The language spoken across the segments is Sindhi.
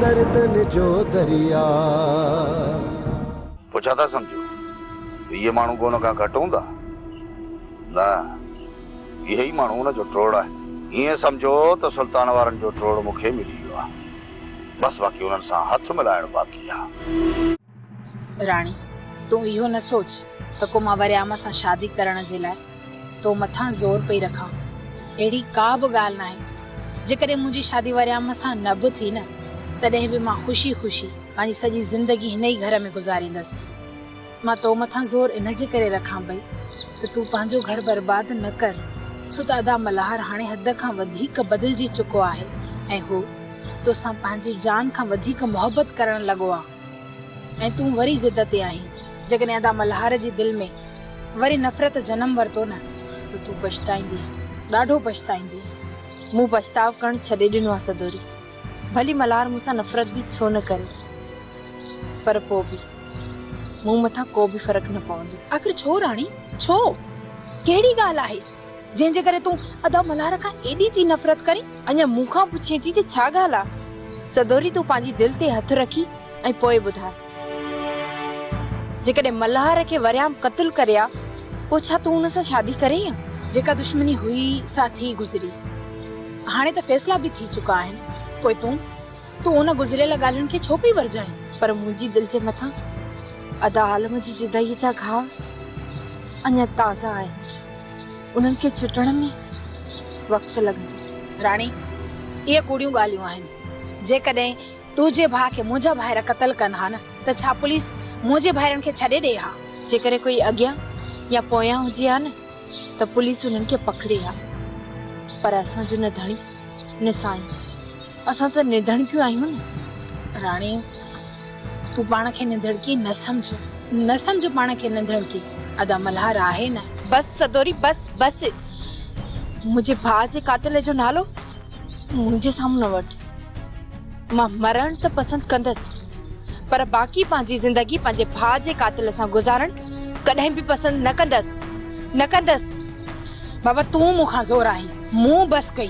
دردن جو درياء. پوء ڇا ٿا سمجهو ته اهي ماڻهو ڪو ان کان گهٽ هوندا؟ نه، اهي ئي ماڻهو ان جو ٽوڙ آهن. ائين سمجهو ته سلطان وارن جو ٽوڙ مون کي ملي ويو آهي، بس باقي انهن سان هٿ ملائڻ باقي آهي. راڻي، تون اهو نه سوچ ته ڪو مان وريام سان شادي ڪرڻ جي لاء تو مٿان زور پئي رکان. اهڙي ڪا به ڳالهه ناهي. جيڪڏهن منهنجي شادي وريام سان نه به ٿي نه، تڏهن به مان خوشي خوشي پنهنجي سڄي زندگي هن ئي گهر ۾ گذاريندس. مان تو مٿان زور ان جي ڪري رکان پئي ته تون پنهنجو گهر برباد نه ڪر، ڇو ته ادا ملهار هاڻي حد کان وڌيڪ بدلجي چڪو آهي ۽ هو تو سان پنهنجي جان کان وڌيڪ محبت ڪرڻ لڳو آ. ۽ تون وري ضد تي آهين. جيڪڏهن ادا ملهار جي دل ۾ وري نفرت جنم ورتو نه ته تون پڇتائيندين. ڏاڍو پڇتائيندين. مون پڇتاء ڪرڻ ڇڏي ڏنو آهي سدوري. ڀلي ملهار مون سان نفرت به ڇو نه ڪري پر پوء به مون مٿان ڪو به فرق نه پوندو. آخر ڇو راڻي ڇو؟ ڪهڙي ڳالهه آهي؟ جنهن جي ڪري تون ادا ملهار کان ايڏي ٿي نفرت ڪرين؟ اڃا مون کان پڇين ٿي ته ڇا ڳالهه آ؟ سدوري تون پنهنجي دل تي هٿ رکي ۽ پوء ٻڌاء. جيڪڏهن ملهار کي وريام قتل ڪري آ پوء ڇا تون هن سان شادي ڪرين ها؟ جيڪا دشمني هئي سا ٿي گذري. هاڻي ته فيصلا به ٿي چڪا آهن. پوء تون؟ تون ان گذريل ڳالهين کي ڇو پئي ورجائين؟ پر منهنجي دل جي مٿان ادا عالم جي جدائيء جا گهاء اڃا تازا آهن. انهن کي چٽڻ ۾ وقت لڳندو. راڻي، اهي ڪوڙيون ڳالهيون آهن. جيڪڏهن تنهنجي ڀاء کي منهنجا ڀائر قتل ڪن ها نه ته ڇا پوليس منهنجي ڀائرن کي ڇڏي ڏئي ها؟ جيڪڏهن ڪوئي اڳيان يا پويان هجي ها نه ته پوليس انهن کي پڪڙي ها. پر اسان جو نه ڌڻي نه سائين. اسان ته نڌڻڪيون آهيون نه راڻي، تون پاڻ کي نڌڻڪي نه سمجهه، نه سمجهه پاڻ کي نڌڻڪي، ادا ملهار آهي نه. بس سدوري بس بس، منهنجي ڀاء جي قاتل جو نالو منهنجي سامهون نه وٺ، مان مرڻ ته پسند ڪندس پر باقي پنهنجي زندگي پنهنجي ڀاء جي قاتل سان گذارڻ ڪڏهن به پسند نه ڪندس، نه ڪندس. بابا تون مون کان زور آهين، مون بس ڪئي.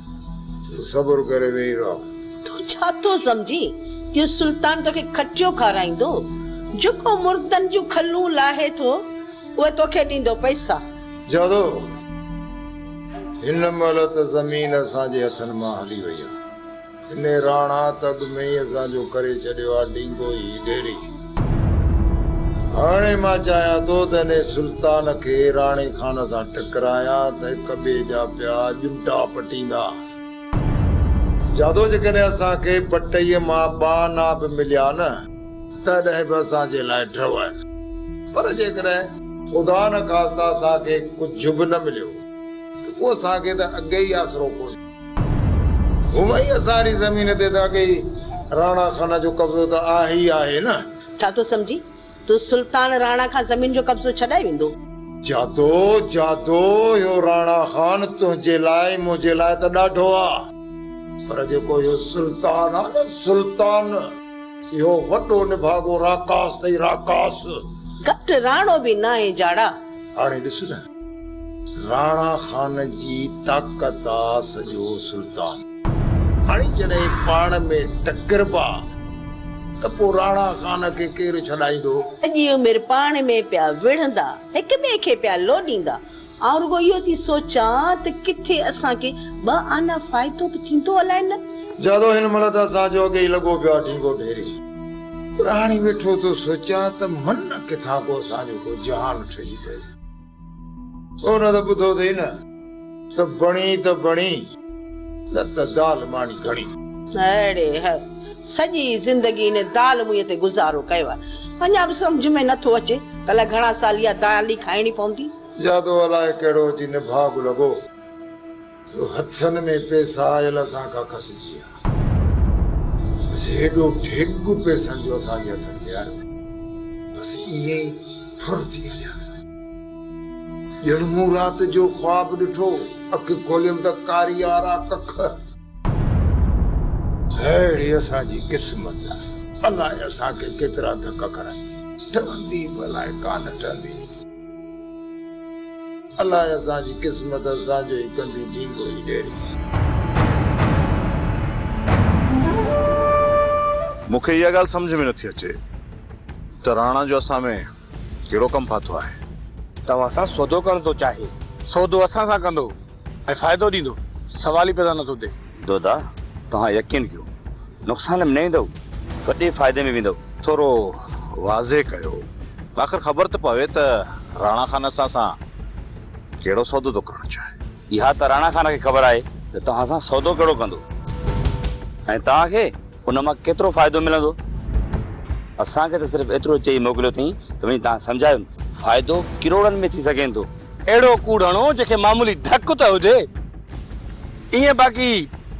تون صبر ڪري ويهي رهه. تون ڇا ٿو سمجهين ته اهو سلطان توکي کٽيو کارائيندو؟ جيڪو مردن جون کلون لاهي ٿو، اهو توکي ڏيندو پئسا. جادو! هن مهل ته زمين اسان جي هٿن مان هلي وئي آهي. هن راڻا ته اڳ ۾ ئي اسان جو ڪري ڇڏيو آهي ڊينگو هي ڊيري. هاڻي مان چاهيان ٿو ته انهيء سلطان کي راڻي خان سان ٽڪرايان ته هڪ ٻئي جا پيا ڄمٽا پٽيندا. جادو جيڪڏهن اسان کي پٽئيء مان ٻه آنا به مليا نه، تڏهن به اسان جي لاء ڍؤ آهن، پر جيڪڏهن خدا نخواسته اسان کي ڪجهه به نه مليو ته پوء اسان کي ته اڳي ئي آسرو ڪونهي. هومئي اسان ري زمين تي ته اڳي ئي راڻا خان جو قبضو ته آهي ئي آهي نه. ڇا ٿو سمجهين؟ تو سلطان راڻا کان زمين جو قبضو ڇڏائي ويندو؟ جادو، جادو، اهو راڻا خان تنهنجي لاء ۽ منهنجي لاء ته ڏاڍو آ. پر جيڪو اهو سلطان آ نه سلطان، اهو وڏو نڀاڳو راڪاس اٿئي، راڪاس. گهٽ راڻو به ناهين جاڙا. هاڻي ڏس نه راڻا خان جي طاقت آ سڄو سلطان. هاڻي جڏهن پاڻ ۾ ٽڪربا ته پوء راڻا خان کي ڪير ڇڏائيندو. سڄي عمر پاڻ ۾ پيا وڙهندا هڪ ٻئي کي پيا لوڏيندا. آئون رڳو اهو ٿي سوچان ته ڪٿي اسان کي ٻه آنا فائدو به ٿيندو الائي نه. جادو هن ملت اسان جو اڳي ئي لڳو پيو آ ڍينگو ڍيري. پر هاڻي ويٺو ٿو سوچيان ته من ڪٿان ڪو اسان جو ڪو جهان ٺهي پئي. تو نه ته ٻڌو اٿئي نه ته بڻي ته بڻي نه ته دال ماڻي گهڻي. اڙي هه! سڄي زندگي ان دال مئي تي گذارو ڪيو آهي. اڃا به سمجهه ۾ نه ٿو اچي ته الائي گهڻا سال اها دال ئي کائڻي پوندي. جادو الائي ڪهڙو اچي نڀاڳ لڳو. جو هٿن ۾ پئسا آيل اسان کان کسجي ويا. بس هيڏو ڍڳ پئسن جو اسان جي هٿن تي آيو. بس ائين ئي ڦر ٿي هليا. ڄڻ مون رات جو خواب ڏٺو هو. اک کوليم ته ڪاريارا ڪک. ههڙي اسان جي قسمت. الاء اسان کي ڪيترا ڌڪ کارائي. ٽهندي به الاء ڪانه ٽهندي. الاء اسان جي قسمت اسان جو ئي ڪندي ڍينگو ئي ڏيري. مون کي اها ڳالهه سمجهه ۾ نه ٿي اچي ته راڻا جو اسان ۾ ڪهڙو ڪم ڦاٿو آهي. توهان سان سودو ڪرڻ ٿو چاهي. سودو اسان سان ڪندو. ۽ فائدو ڏيندو سوال ئي پيدا نٿو ٿئي. دودا توهان يقين ڪيو نقصان ۾ نه ايندؤ وڏي فائدي ۾ ويندؤ. ٿورو واضح ڪيو آخر خبر ته پوي ته راڻا خان اسان سان ڪهڙو سودو ٿو ڪرڻ چاهي. اها ته راڻا خان کي خبر آهي ته توهان سان سودو ڪهڙو ڪندو ۽ توهان کي ان مان ڪيترو فائدو ملندو؟ اسان کي ته صرف ايترو چئي موڪليو اٿئين ته وڃي تان سمجهايون فائدو ڪروڙن ۾ ٿي سگهين ٿو. اهڙو ڪوڙ هڻو جنهن کي معمولي ڍڪ ته هجي. ائين باقي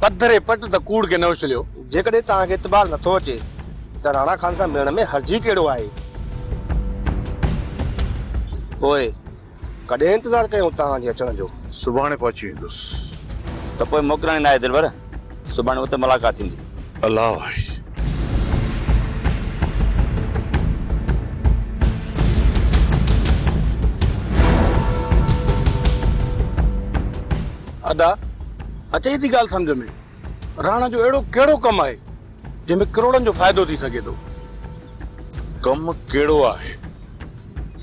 پڌري پٽ ته ڪوڙ کي نه اڇليو. جيڪڏهن توهان کي اعتبار نٿو اچي ته راڻا خان سان ملڻ ۾ حرج ئي ڪهڙو آهي. پوء ڪڏهن انتظار ڪيون توهان جي اچڻ جو. سڀاڻي پهچي ويندس. ته پوء موڪلڻي ناهي دلبر. سڀاڻي اتي ملاقات ٿيندي. الله آهي. ادا اچي ٿي ڳالهه سمجهه ۾، راڻا جو اهڙو ڪهڙو ڪم آهي؟ جنهن ۾ ڪروڙن جو فائدو ٿي سگهي ٿو. ڪم ڪهڙو آهي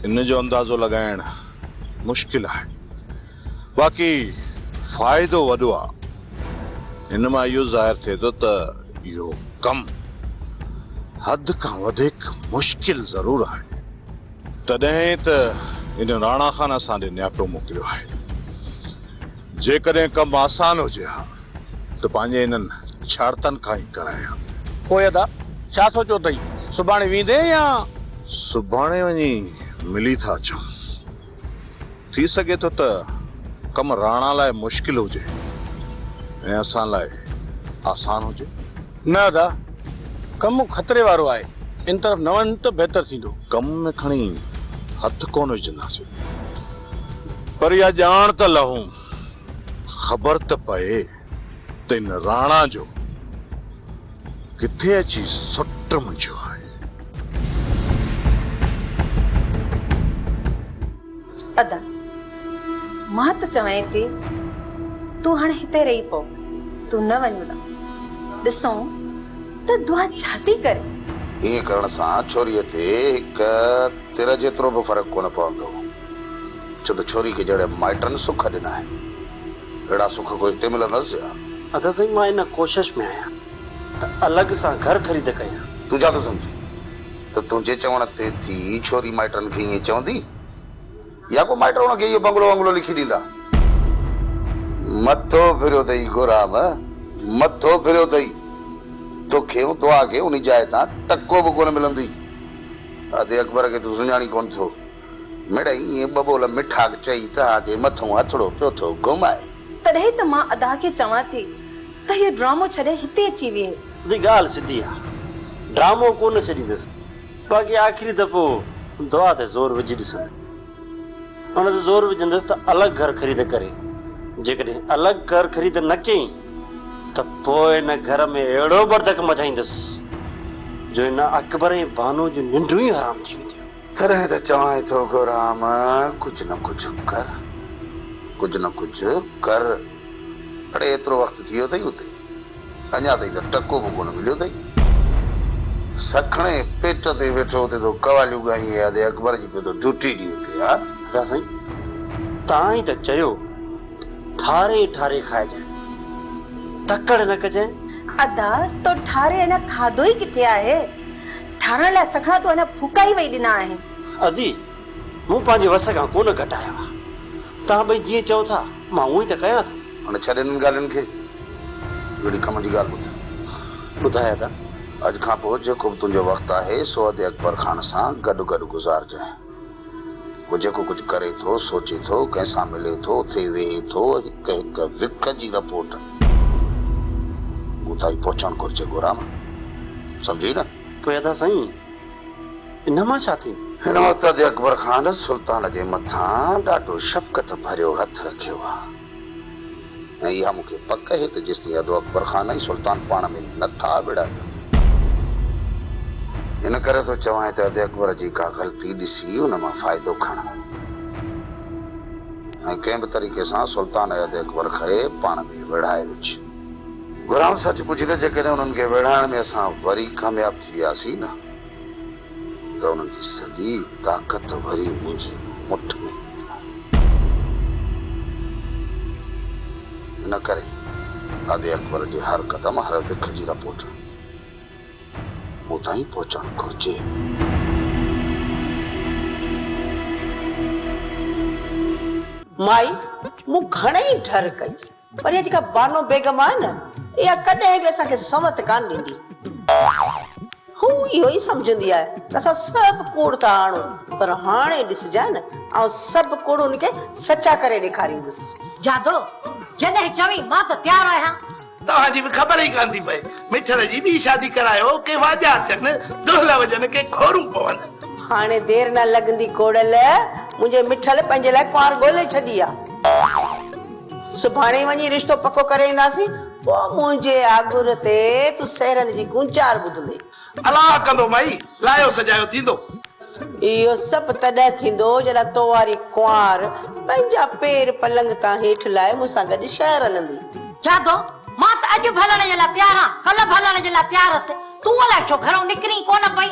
ان جو اندازو لڳائڻ مشڪل آهي باقي فائدو وڏو آهي. هن مان اهو ظاهر ٿئي ٿو ته اهو ڪم حد کان وڌيڪ مشڪل ضرور آهي تڏهن ئي ته هن راڻا خان اسان ڏي نياپو موڪليو آهي. جيڪڏهن ڪم آسان هجي ها ته پنهنجي انهن ڇارتن کان ئي ڪرائي ها. پوء ادا، ڇا سوچيو اٿئي؟ سڀاڻي ويندين يا؟ سڀاڻي وڃي ملي ٿا اچونس. ٿي سگهي ٿو ته ڪم راڻا لاء مشڪل هجي ۽ اسان لاء آسان هجي. نه ادا، ڪم خطري وارو آهي، ان طرف نه وڃ ته بهتر ٿيندو. ڪم ۾ کڻي هٿ ڪونه وجهنداسين، پر اها ڄاڻ ته لهون، خبر ته پئي ته ان راڻا جو ڪٿي اچي سٽ منجهيو آهي. ادا! مان ته چوين ٿي تون هاڻ هتي رهي پو، تون نه وڃ ادا! ڏسون ته دعا ڇا ٿي ڪري؟ ائين ڪرڻ سان ڇوريء تي هڪ تر جيترو به فرق ڪونه پوندو، ڇو ته ڇوري کي جهڙي مائٽن سک ڏنا آهن، اهڙا سک ڪو هتي ملندس ڇا؟ ادا سائين مان ان ڪوشش ۾ آهيان ته الڳ سان گهر خريد ڪيان. تون ڇا ٿو سمجهين؟ ته تنهنجي چوڻ تي ٿي ڇوري مائٽن کي ائين چوندي يا ڪو مائٽ هن کي اهو بنگلو ونگلو لکي ڏيندا. مٿو ڦريو اٿئي گورام، مٿو ڦريو اٿئي. توکي ۽ توهان کي ان جاء تان ٽڪو به ڪونه ملندو. ادي اڪبر کي تون سڃاڻين ڪونه ٿو. مڙئي ائين ٻه ٻول مٺاڪ چئي تها تي مٿئون هٿڙو پيو ٿو گهمائي. تڏهن ته مان ادا کي چوان ٿي ته هيء ڊرامو ڇڏي هتي اچي ويهي. ادي ڳالهه سڌي آ. ڊرامو ڪو نه ڇڏيندس. باقي آخري دفعو دعا تي زور وجهي ڏسندس. ان تي زور وجهندس ته الڳ گهر خريد ڪري. جيڪڏهن الڳ گهر خريد نه ڪيئين ته پوء ان گهر ۾ اهڙو بڙڌڪ مچائيندس جو هن اڪبر ۽ بانوء جون ننڊون ئي حرام ٿي وينديون. تڏهن ته چوانء ٿو گورام ڪجهه نه ڪجهه ڪر، ڪجهه نه ڪجهه ڪر. اڙي ايترو وقت ٿي ويو اٿئي اتي، اڃا تائين ته ٽڪو به ڪونه مليو اٿئي. سکڻي پيٽ تي ويٺو اتي ٿو قواليون ڳائين اياده اڪبر جي پيو ٿو ڊيوٽي ڏين اتي ها. ادا سائين توهان ئي ته چيو ٺاري ٺاري کائجانء، تڪڙ نه ڪجانء. ادا تو ٺاري اڃا کاڌو ئي ڪٿي آهي. ٺاهرائڻ لاء سگهڙا تون اڃا ڦوڪا ئي وئي ڏنا آهن. ادي، مون پنهنجي وس کان ڪونه گهٽايا هئا. توهان ٻئي جيئن چئو ٿا، مان هونئن ته ڪيان ٿو. هاڻي ڇڏ انهن ڳالهين کي. ويڙهي ڪم جي ڳالهه ٻڌ. ٻڌاء ادا. اڄ کان پوء جيڪو به تنهنجو وقت آهي، سو ادي اڪبر خان سان گڏ گڏ گذارجانء. هو جيڪو ڪجهه ڪري ٿو، سوچي ٿو، ڪنهن سان ملي ٿو، اٿي ويهي ٿو، هڪ هڪ وک جي رپورٽ مون تائين پهچڻ گهرجي گورام. سمجهي نه؟ پوء ادا سائين، ان مان ڇا ٿيندو؟ هن وقت ادي اڪبر خان سلطان جي مٿان ڏاڍو شفقت ڀريو هٿ رکيو آ. ۽ اها مون کي پڪ اهي ته جيستائين ادو اڪبر خان ۽ سلطان پاڻ ۾ نه ٿا وڙهن، ان ڪري ٿو چوانء ته ادي اڪبر جي ڪا غلطي ڏسي ان مان فائدو کڻ ۽ ڪنهن به طريقي سان سلطان ۽ ادي اڪبر کي پاڻ ۾ ويڙهائي وجهه. گهران سچ پڇي ته جيڪڏهن انهن کي ويڙهائڻ ۾ اسان وري ڪامياب ٿي وياسين نه ته ان جي سڄي طاقت وري منهنجي مٺ ۾ ايندي. ان ڪري ادي اڪبر جي هر قدم هر رک جي رپورٽ مون تائين پهچڻ گهرجي. مائي مون گهڻئي ڍر ڪئي. پر اها جيڪا بانو بيگم آهي نه، اها ڪڏهن به اسان کي سنوت ڪانه ڏيندي. هوء اهو ئي سمجهندي آهي ته اسان سڀ ڪوڙ ٿا آڻون، پر هاڻي ڏسجانء نه، آئون سڀ ڪوڙ هن کي سچا ڪري ڏيکاريندس. جادو، جڏهن چوين، مان ته تيار آهيان. توهان جي به خبر ئي ڪانه ٿي پئي. مٺڙ جي ٻي شادي ڪرايو، ڪي واڄا اچن، دهل وڄن، ڪي کورون پون. هاڻي دير نه لڳندي ڪوڙل، منهنجي مٺڙ پنهنجي لاء ڪنوار ڳولي ڇڏي آ. سڀاڻي وڃي رشتو پڪو ڪري اينداسين، پوء منهنجي آڳر تي تون سهرن جي گونچار ٻڌندين. الاهه ڪندو مئي، لايو سجايو ٿيندو. اهو سڀ تڏهن ٿيندو، جڏهن تو واري ڪنوار پنهنجا پير پلنگ تان هيٺ لاهي مون سان گڏ شهر هلندي. جادو، مان ته اڄ به هلڻ جي لاء تيار آهيان، ڪلهه به هلڻ جي لاء تيار هئس، تون الاهي ڇو گهرئون نڪرين ئي ڪونه پئي.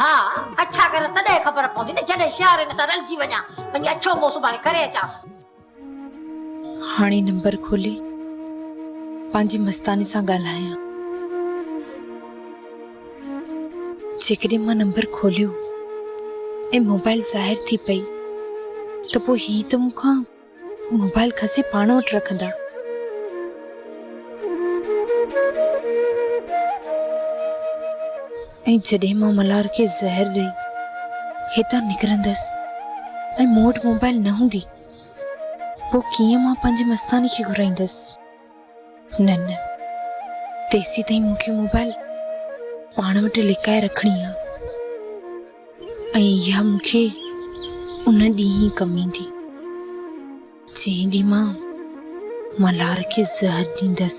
ها اڇا ڪريس تڏهن خبر پوندي نه جڏهن شهرين سان رلجي وڃان وڃي اڇو منهن سڀاڻي ڪري اچانس. هاڻي نمبر کولي پنهنجي مستاني سان ڳالهايان. جيڪڏهن مان نمبر کوليو ۽ موبائل ظاهر ٿي پئي ته پوء هي ته مون کان موبائل کسي پاڻ وٽ رکندا. ۽ جڏهن مان ملهار کي زهر ڏئي هتان نڪرندس ۽ مون وٽ موبائل نه هوندي پوء ڪيئن مان پنهنجي مستاني کي گهرائيندس. نه نه تيسين تائين مون کي موبائل پاڻ وٽ لڪائي رکڻي آ اها مون کي ان ڏينهن ئي ڪم ايندي جنهن ڏينهن مان ملهار کي زهر ڏيندس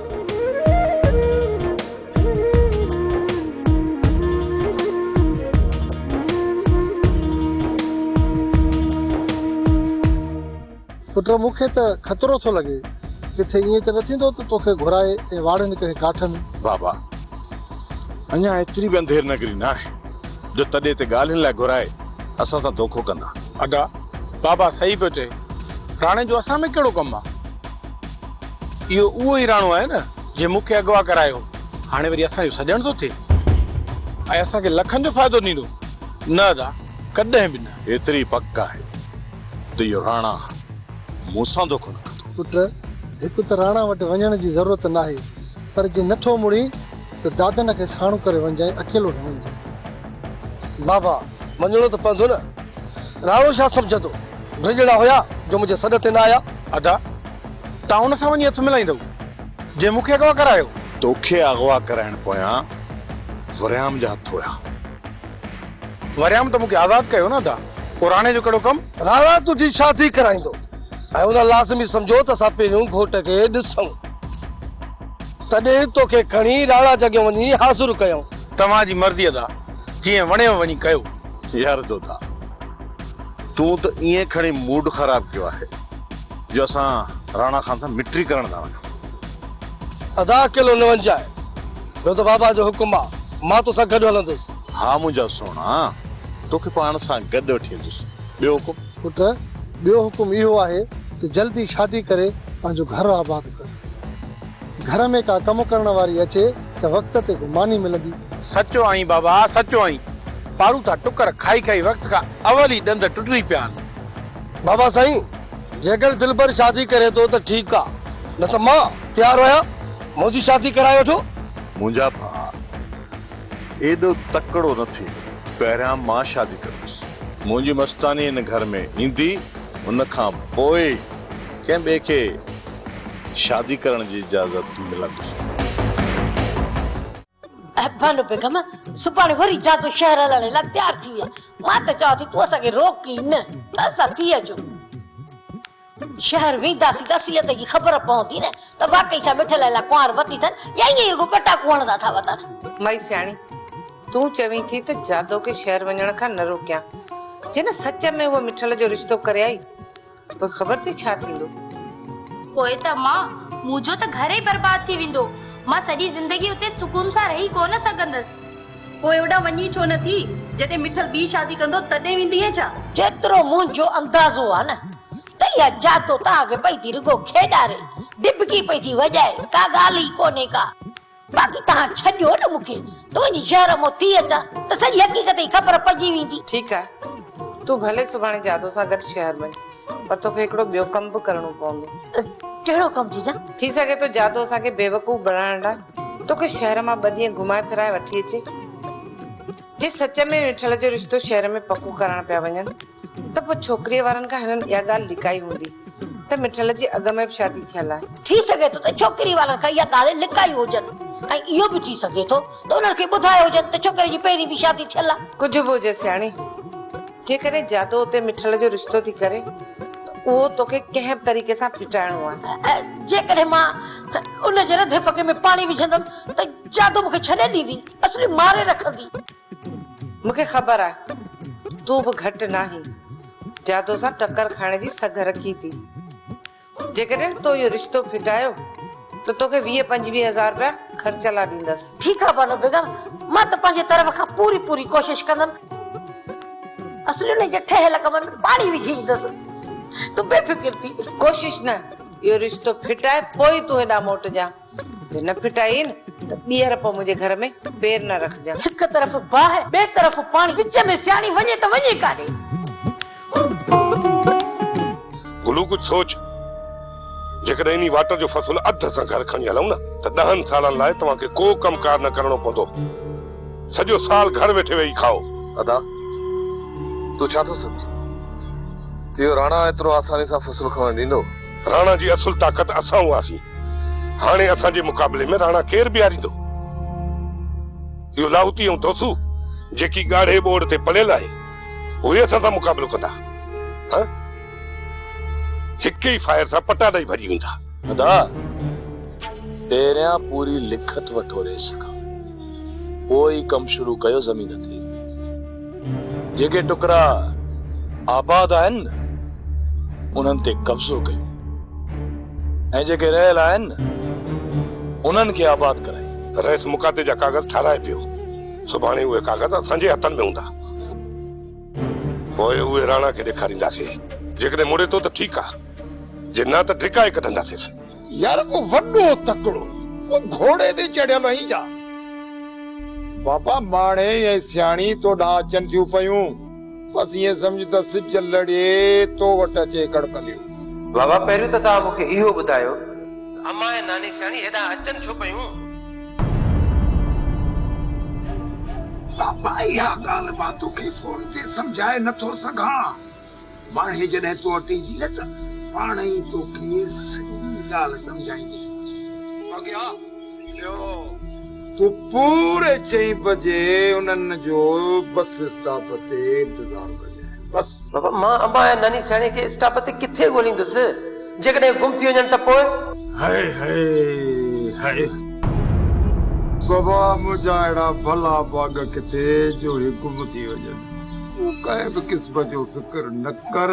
پٽ مون کي ته خطرو ٿو لڳي ڪٿي ائين ته نه ٿيندو ته توکي گهرائي ۽ واڙين ڪنهن ڪاٺ ۾. بابا اڃا ايتري به انڌير نگري نه آهي جو تڏي تي ڳالهين لاء گهرائي اسان سان دوکو ڪندا. ادا بابا صحيح پيو چئي راڻي جو اسان ۾ ڪهڙو ڪم آ. اهو اهو ئي راڻو آهي نه جنهن مون کي اغوا ڪرايو هو. هاڻي وري اسان جو سڄڻ ٿو ٿئي ۽ اسان کي لکن جو فائدو ڏيندو؟ نه ادا، ڪڏهن به نه. ايتري پڪ آهي ته اهو راڻا مون سان دوکو نه ڪندو. پٽ، هڪ ته راڻا وٽ وڃڻ جي ضرورت ناهي، پر جي نٿو مڙين ته دادن کي ساڻو ڪري وڃجانء، اڪيلو نه وڃجانء. بابا، وڃڻو ته پوندو نه. راڻو ڇا سمجهندو؟ ڊڄڻا هيا جو منهنجي سڏ تي نه آيا. ادا، تان ان سان وڃي هٿ ملائيندؤ، جنهن مون کي اغوا ڪرايو. توکي اغوا ڪرائڻ پويان وريام جا هٿ هيا. وريام ته مون کي آزاد ڪيو نه ادا، پوء راڻي جو ڪهڙو ڪم؟ راڻا تنهنجي شادي ڪرائيندو ۽ ان لازمي سمجهو ته اسان پهريون گهوٽ کي ڏسون. تڏهن توکي کڻي راڻا جي اڳيان وڃي حاضر ڪيائون. توهان جي مرضي ادا، جيئن وڻيو وڃي ڪيو. يار جوڌا، تون ته ائين کڻي موڊ خراب ڪيو آهي. جو اسان راڻا خان سان مٽري ڪرڻ ٿا وڃون. ادا اڪيلو نه وڃجانء. ٻيو ته بابا جو حڪم آ. مان توسان گڏ هلندس. ها منهنجا سهڻا. توکي پاڻ سان گڏ وٺي هلندس. ٻيو حڪم؟ پٽ، ٻيو حڪم اهو آهي ته جلدي شادي ڪري پنهنجو گهر آباد ڪر. گهر ۾ ڪا ڪم ڪرڻ واري اچي ته وقت تي ڪو ماني ملندي. سچو آهين بابا، سچو آهين. پاروٿا ٽڪر کائي کائي وقت کان اول ئي ڏند ٽٽري پيا آهن. بابا سائين! جيڪر دلبر شادي ڪري ٿو ته ٺيڪ آ نه ته مان تيار آهيان منهنجي شادي ڪرائي وٺو. منهنجا ڀاء ايڏو تڪڙو نه ٿي پهريان مان شادي ڪندس منهنجي مستاني هن گهر ۾ ايندي ان کان پوء ئي ڪنهن ٻئي کي شادي ڪرڻ جي اجازت ملندي. احسان بيگم سڀاڻي وري جادو شهر هلڻ لاء تيار ٿي ويا. مان ته چوان ٿي تون اسان کي روڪ ئي نه ته اسان ٿي اچون. شهر وينداسين ته اصليت جي خبر پوندي نه ته واقعي ڇا مٺل الاء ڪنوار وتي ٿن يا ائين ئي رڳو پٽاڪو هڻندا ٿا وتن. مئي سياڻي تون چوين ٿي ته جادو کي شهر وڃڻ کان نه روڪيان. جنهن سچ ۾ هوء مٺل جو رشتو ڪري آئي پوء خبر ٿي ڇا ٿيندو. پوء ته مان، مون جو ته گهر ئي برباد ٿي ويندو. مان سڄي زندگي اتي سڪون سان رهي ڪونه سگهندس. پوء هوڏانهن وڃين ڇو نه ٿي؟ جڏهن مٺل ٻي شادي ڪندو تڏهن ويندينء ڇا؟ جيترو منهنجو اندازو آهي نه ته اها جاتو تان اڳ پئي ٿي رڳو کيڏاري، ڊٻڪي پئي ٿي وڄائي، ڪا ڳالهه ئي ڪونهي ڪا. باقي توهان ڇڏيو نه مون کي، تنهنجي شهر مون ٿي اچان ته سڄي حقيقت جي خبر پئجي ويندي. ٺيڪ آهي، تون ڀلي سڀاڻي جادو سان گڏ شهر وڃ، پر توکي هڪڙو ٻيو ڪم به ڪرڻو پوندو. ڪهڙو ڪم جيجا؟ ٿي سگهي ٿو جادو اسان کي بيوقوف بڻائڻ لاء توکي شهر مان ٻه ڏينهن گهمائي ڦرائي وٺي اچي. جي سچ ۾ نٺل جو رشتو شهر ۾ پڪو ڪرائڻ پيا وڃن، ته پوء ڇوڪريء وارن کان هنن اها ڳالهه لڪائي هوندي ته مٺل جي اڳ ۾ به شادي ٿيل آهي. ٿي سگهي ٿو ته ڇوڪريء وارن کان اها ڳالهه لڪائي هجن ۽ اهو به ٿي سگهي ٿو ته انهن کي ٻڌايو هجن ته ڇوڪري جي پهرين به شادي ٿيل آهي. ڪجهه به هجي سياڻي، جيڪڏهن جادو اتي مٺل جو رشتو ٿي ڪري ته اهو توکي ڪنهن به طريقي سان ڦٽائڻو آهي. جيڪڏهن مان ان جي رڌي پڳي ۾ پاڻي وجهندم ته جادو مون کي ڇڏي ڏيندي، اصلي ماري رکندي. مون کي خبر آ تون به گهٽ ناهين جادو سان ٽڪر کائڻ جي سگهه رکين ٿي جيڪڏهن تو اهو رشتو ڦٽايو ته توکي ويهه پنجويهه هزار رپيا خرچ لا ڏيندس. ٺيڪ آ بانو بيگم مان ته پنهنجي طرف کان پوري پوري ڪوشش ڪندم اصلي انهي جي ٺهيل ڪم ۾ پاڻي وجهي ايندس تون بي فڪر ٿي. ڪوشش نه اهو رشتو ڦٽائي پوء تون هيڏانهن موٽجان. جي نه ڦٽائين ته ٻيهر پوء منهنجي گهر ۾ پير نه رکجان. هڪ طرف باهه، ٻئي طرف پاڻي، وچ ۾ سياڻي وڃي ته وڃي ڪاڏي؟ گلو ڪجهه سوچ. جيڪڏهن انهي واٽر جو فصل اڌ اسان گهر کڻي هلون نه ته ڏهن سالن لاء توهان کي ڪو ڪم ڪار نه ڪرڻو پوندو. سڄو سال گهر ويٺي ويهي کائو. ادا، تون ڇا ٿو سمجهين ته اهو راڻا ايترو آساني سان فصل کڻڻ ڏيندو؟ راڻا جي اصل طاقت اسان هئاسين، هاڻي اسان جي مقابلي ۾ راڻا ڪير بيهاريندو؟ اهو لاهوتي ۽ دوسو جيڪي ڳاڙهي ٻوڙ تي پليل آهن، اهي اسان سان مقابلو ڪندا؟ هه! هڪ ئي فائر سان پٽا ڏئي ڀڄي ويندا. ادا! پهريان پوري لکت وٺو ريس کان. پوء ئي ڪم شروع ڪيو زمين تي جيڪي ٽڪرا آباد آهن انهن تي قبضو ڪيو ۽ جيڪي رهيل آهن انهن کي آباد ڪرائي رئيس مقاطعي جا ڪاغذ ٺاراهي پيو سڀاڻي اهي ڪاغذ اسان جي هٿن ۾ هوندا پوء اهي راڻا کي ڏيکارينداسين جيڪڏهن مڙي ٿو ته ٺيڪ آهي جي نه ته ڊڪائي ڪڍنداسينس يار ڪو وڏو تڪڙو ڪو گهوڙي تي چڙهيل ۽ جا بابا ماڻهي ۽ سياڻي تو ڏانهن اچن ٿيون پيون بس ائين سمجهه ته سج لڙي تو وٽ اچي ڪڙڪنديون. بابا پهريون ته توهان مون کي اهو ٻڌايو ته امان ۽ ناني سياڻي هيڏانهن اچن ڇو پيون؟ بابا اها ڳالهه مان توکي فون تي سمجهائي نٿو سگهان. ماڻهي جڏهن تو وٽ ايندي نه ته پاڻ ئي توکي سڄي ڳالهه سمجهائيندي. اڳيا ٻيو. تو پوري چئين بجي انهن جو بس اسٽاپ تي انتظار ڪجانء. بس. بابا مان ابا ۽ ناني سياڻي کي اسٽاپ تي ڪٿي ڳوليندس؟ جيڪڏهن گم ٿي وڃن ته پوء؟ هئي هئي هئي. بابا منهنجا اهڙا ڀلا ڀاڳ ڪٿي جو هي گم ٿي وڃن. تون ڪنهن به قسم جو فڪر نه ڪر.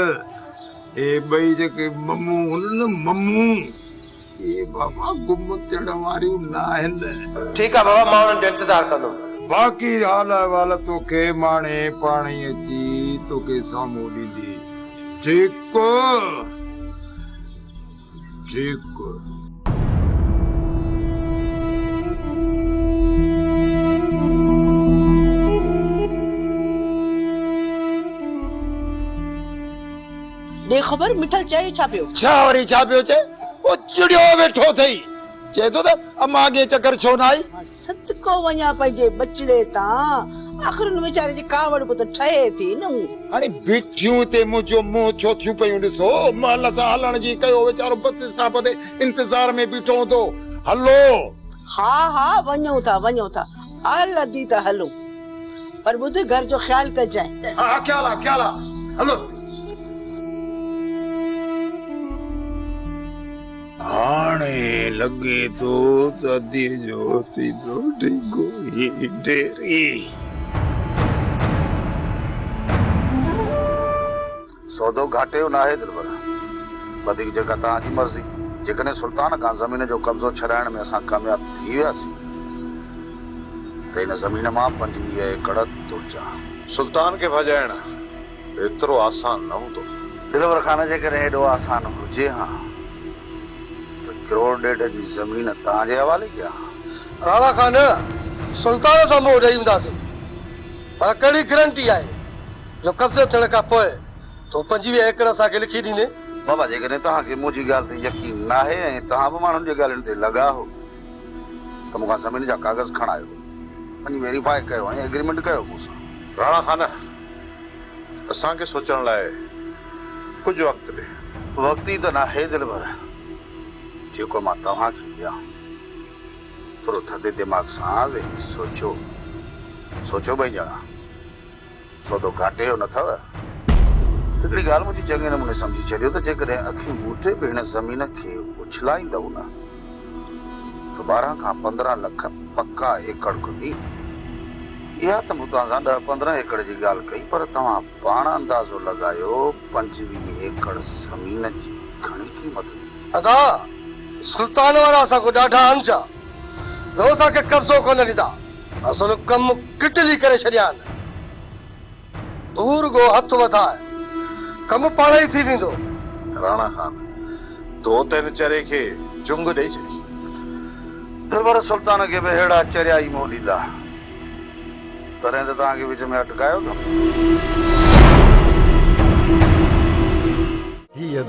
اهي ٻئي جيڪي ممون هن نه ممون اهي بابا گم ٿيڻ واريون ناهن. ٺيڪ آ بابا مان انهن جو انتظار ڪندم. باقي حال احوال توکي ماڻهي پاڻهي اچي توکي سامهون ڏيندي ٺيڪ. ٺيڪ. ڏي خبر مٺل چئي ڇا پيو. ڇا وري ڇا پيو چئي. او چڙيو ويٺو اٿئي. چئي ٿو ته اما اڳي چڪر ڇو نه آئي؟ مان صدقو وڃان پنهنجي ٻچڙي تان، آخر ان ويچاري جي ڪاوڙ به ته ٺهي ٿي نه مون. هاڻي بيٺيون هتي منهنجو منهن ڇو ٿيون پيون ڏسو؟ محل سان هلڻ جي ڪيو ويچارو بس اسٽاپ تي انتظار ۾ بيٺو هوندو. هلو. ها ها وڃون ٿا وڃون ٿا اهل اڌي ته هلون پر ٻڌ گهر جو خيال ڪجانء. ها ها خيال آ خيال آ هلو. هاڻي لڳي ٿو ته ادي جو ٿيندو ڊيگهو هي ڍيري. سودو گهاٽي جو ناهي دلبر. وڌيڪ جيڪا توهان جي مرضي. جيڪڏهن سلطان کان زمين جو قبضو ڇڏائڻ ۾ اسان ڪامياب ٿي وياسين ته ان زمين مان پنجويهه ايڪڙ تنهنجا. سلطان کي ڀڄائڻ ايترو آسان نه هوندو. دلبر خان جيڪڏهن ايڏو آسان هجي ها ته ڪروڙ ڏيڍ جي زمين توهان جي حوالي ڪيا ها. راڻا خان سلطان سان منهن ڏئي هونداسين پر ڪهڙي گرنٽي آهي جو قبضو ٿيڻ کان پوء تون پنجويهه ايڪڙ اسان کي لکي ڏيندين. بابا جيڪڏهن توهان کي منهنجي ڳالهه تي يقين ناهي ۽ توهان به ماڻهن جي ڳالهين تي لڳا آهو ته مون کان زمين جا ڪاغذ کڻايو. وڃي ويريفائي ڪيو ۽ ايگريمينٽ ڪيو مون سان. راڻا خان اسان کي سوچڻ لاء ڪجهه وقت ڏي. وقت ئي ته ناهي دلبر، جيڪو مان توهان کي ڏيان. ٿورو ٿڌي دماغ سان ويهي سوچو. سوچو ٻئي ڄڻا. سودو گهاٽي جو نه ٿئو. هڪڙي ڳالهه منهنجي چڱي نموني سمجهي ڇڏيو ته جيڪڏهن اکيون ٻوٽي به هن زمين کي اڇلائيندئو نه، ته ٻارهن کان پندرهن لک پڪا ايڪڙ ڪندي. اها ته مون توهان سان ڏهه پندرهن ايڪڙ جي ڳالهه ڪئي پر توهان پاڻ اندازو لڳايو پنجويهه ايڪڙ زمين جي گهڻي قيمت ٿيندي. ادا سلطان وارا اسان کان ڏاڍا اڻجا رهو اسان کي قبضو ڪونه ڏيندا اسان جو ڪم ڪٽلي ڪري ڇڏيان. تون رڳو هٿ وڌاء، ڪم پاڻ ئي ٿي ويندو. راڻا خان، تو ته هن چري کي چنگ ڏئي ڇڏي. ڏٻر سلطان کي به اهڙا چريا ئي منهن ڏيندا. تڏهن ته توهان کي وچ ۾ اٽڪايو اٿم. هي هٿ.